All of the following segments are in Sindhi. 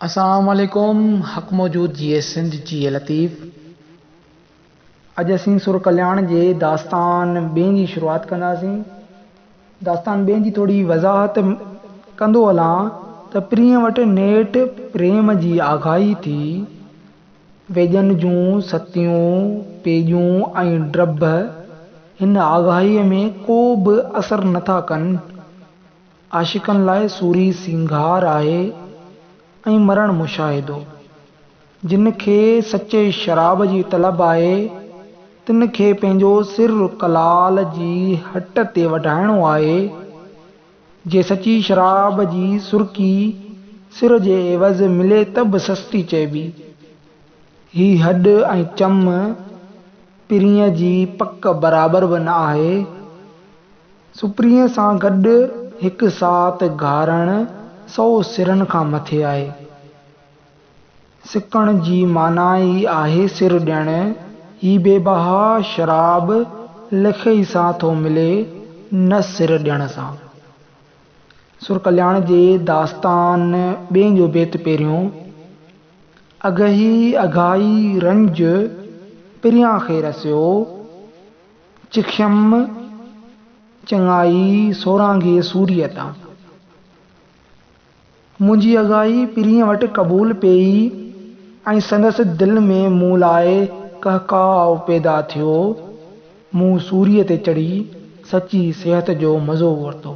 اسلام عليڪم حق موجود جيئي سنڌ جيئي لطيف. اڄ اسين سر ڪلياڻ جي داستان ٻين جي شروعات ڪنداسين. داستان ٻين جي ٿوري وضاحت ڪندو هلان ته پرينء وٽ نيٺ پريم جي آگاهي ٿي. ويڄن جون ستيون، پيڄون ۽ ڊڀ هن آگاهيء ۾ ڪو به اثر نٿا ڪن. عاشقن لاء سوري سينگار آهي ۽ مرڻ مشاهدو. جن کي سچي شراب جي طلب آهي، تن کي پنهنجو سر ڪلال جي هٽ تي وڍائڻو آهي. جي سچي شراب جي سرڪي سر جي عيوض ملي ته به سستي چئبي. هي هڏ ۽ چم پرينء جي پڪ برابر به نه آهي. سپرينء سان گڏ هڪ ساعت گهارڻ سؤ سرن کان مٿي آهي. سڪڻ جي معنيٰ ئي آهي سر ڏيڻ. هي بي بها شراب لکئي سان ٿو ملي نه سر ڏيڻ سان. سر ڪلياڻ جي داستان ٻئي جو بيت پهريون، اگهي اگهائي رنج پريان کي رسيو، چکيم چڱائي سورانگهي سوريء تان. منهنجي اگهائي پرينء وٽ قبول پيئي ۽ سندس دل ۾ مون لاء ڪهڪاء پيدا ٿيو. مون سوريء تي چڙهي سچي صحت جو مزو ورتو.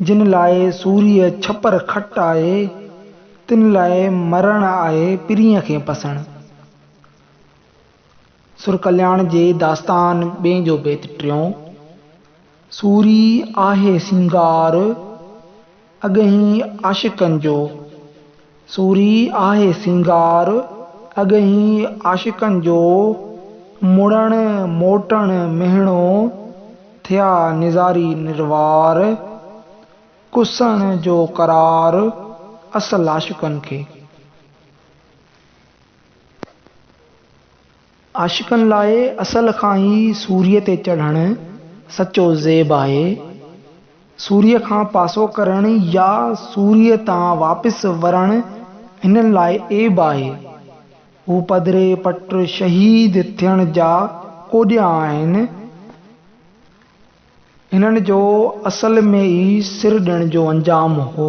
جن لاء سوريء ڇپر کٽ آهي، تن لاء مرڻ آهي پرينء کي پسڻ. سرڪلياڻ جي داستان ٻئي جو بيت ٽيون. سوري آهي سينگار اڳهين عاشقن جو. سوري آهي سينگار، اڳهين عاشقن جو، مڙڻ موٽڻ مهڻو، ٿيا نظاري نروار، ڪسڻ جو قرار اصل عاشقن کي. عاشقن لاء اصل کان ئي سوريء تي چڙهڻ سچو زيب آهي. سوريء کان پاسو ڪرڻ يا سوريء تان واپس ورڻ هنن لاء عيب آهي. هو پڌري پٽ شهيد ٿيڻ جا ڪوڏيا آهن. هنن جو اصل ۾ ئي سر ڏيڻ جو انجام هو.